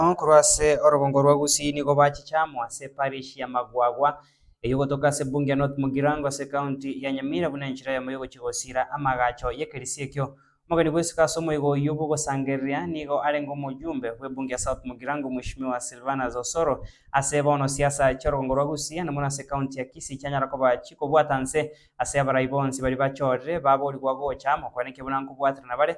Abamalaika korwa ase orogongo rwa gusii nigo bachicha amo ase parish ya Magwagwa, eyio gotoka ase Bunge ya North Mugirango ase ekaunti ya Nyamira buna enchera yamo yogochia gosiira amagacho y'ekerisio ekio. Omogeni bw'esiko ase omoigo oyio bw'ogosangereria nigo arenge omoyumbe bw'ebunge ya South Mugirango Mweshimiwa Silvanus Osoro. Ase bono siasa chi'orogongo rwa gusii na mono ase ekaunti ya Kisii chianyara koba chikobwata nse ase abarai bonsi baria bachorire baborigwa gocha amo kwanekio buna nkobwaterana bare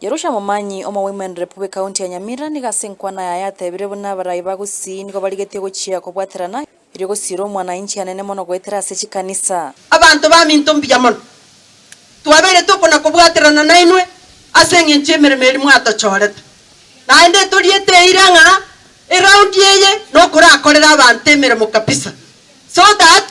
Jerusha Momanyi omo Women Rep bw'Ekaunti ya Nyamira nigo ase enkwana yaye atebire buna abarai ba Gusii nigo barigetie gochia kobwaterana erio gosiira omwanainchi anene mono goetera ase chikanisa. Abanto baminto mbuya mono, twabeire tokona-kobwaterana nainwe ase engencho y'emeremo eria mwatochorete. Naende toriete eira ng'a eroundi eye nokorakorere abanto emeremo kabisa so that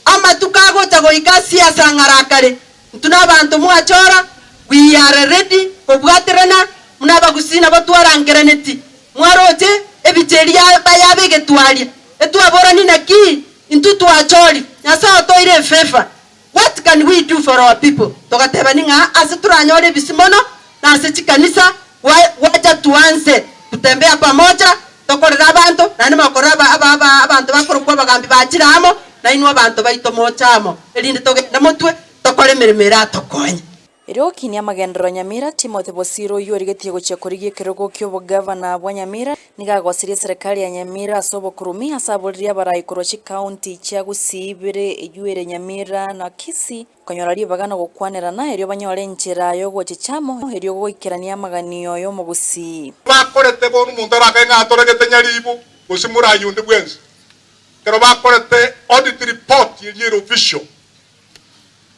amatuko agocha goika ase asang'ara akare. Intwe nabaanto mwachora, we are ready kobwaterana buna abagusii nabo twarangeraneti, mwaroche ebicha eria bayaba egetwaria, etwaborani naki intwe twachori, Nyasae otoire efavor, what can we do for our people? Togatebani ng'a ase toranyore ebisi mono nase chikanisa, Gwa- gwacha tuanse gotembea pamoja, tokorera abanto, naende mokorera aba- aba- aba- abanto bakorokwa abagambi ba chire amo, nainwe abanto baito moche amo, erinde togende motwe, tokore emeremo eratokonye. Erio okinia amagenderero Nyamira, Timothy Bosiro oyio origetie gochia korigia ekerogo ki'obogavana bwa Nyamira, nigo agosirie eserekari ya Nyamira ase obokurumi, ase aboririe abarai korwa chikaunti chia Gusii ibere eywo ere Nyamira na Kisii, Konyora ribaga na gokwanerana, erio banyore enchera y'ogochicha amo, erio goikeranie amaganio y'omogusii. Bakorete bono omonto arakae ng'a atoregete nyaribu gose morai onde bwensi. Ekero bakorete audit report eria ere official,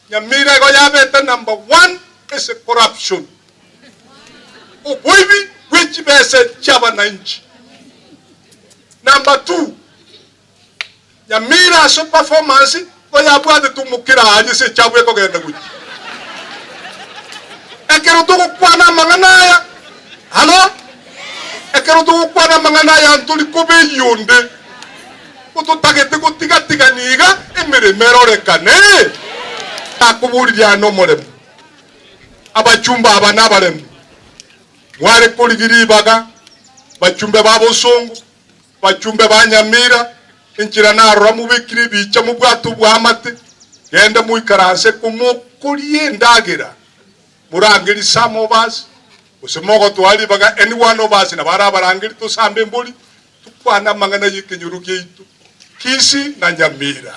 Nyamira igo yabete number one ase corruption, oboibi bwechibesa chiabananchi, number two Nyamira ase performance nigo yabwatete omokera aria ase echabu ekogenda gochia. Ekero togokwana amang'ana aya, halo, ekero togokwana amang'ana aya ntori kobeyia onde, nigo totagete gotigatigania iga emeremo erorekane. Nakoboririe aya nomoremo, abachumba aba nabarembe, mware korigia ribaga bachumbe ba bosongo. Bachumbe ba Nyamira, enchera narora mobekire ebiicha mobwato bw'amate, genda moikaranse ko mokorie endagera, morange risama obasi, gose mogotwara ribaga any one of us nabare abarangeri tosambe embori, tokwane amang'ana y'ekenyoro giaito Kisi na Nyamira.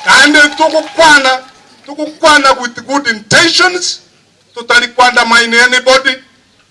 Naende togokwana togokwana with good intentions, totari kwandamine anybody,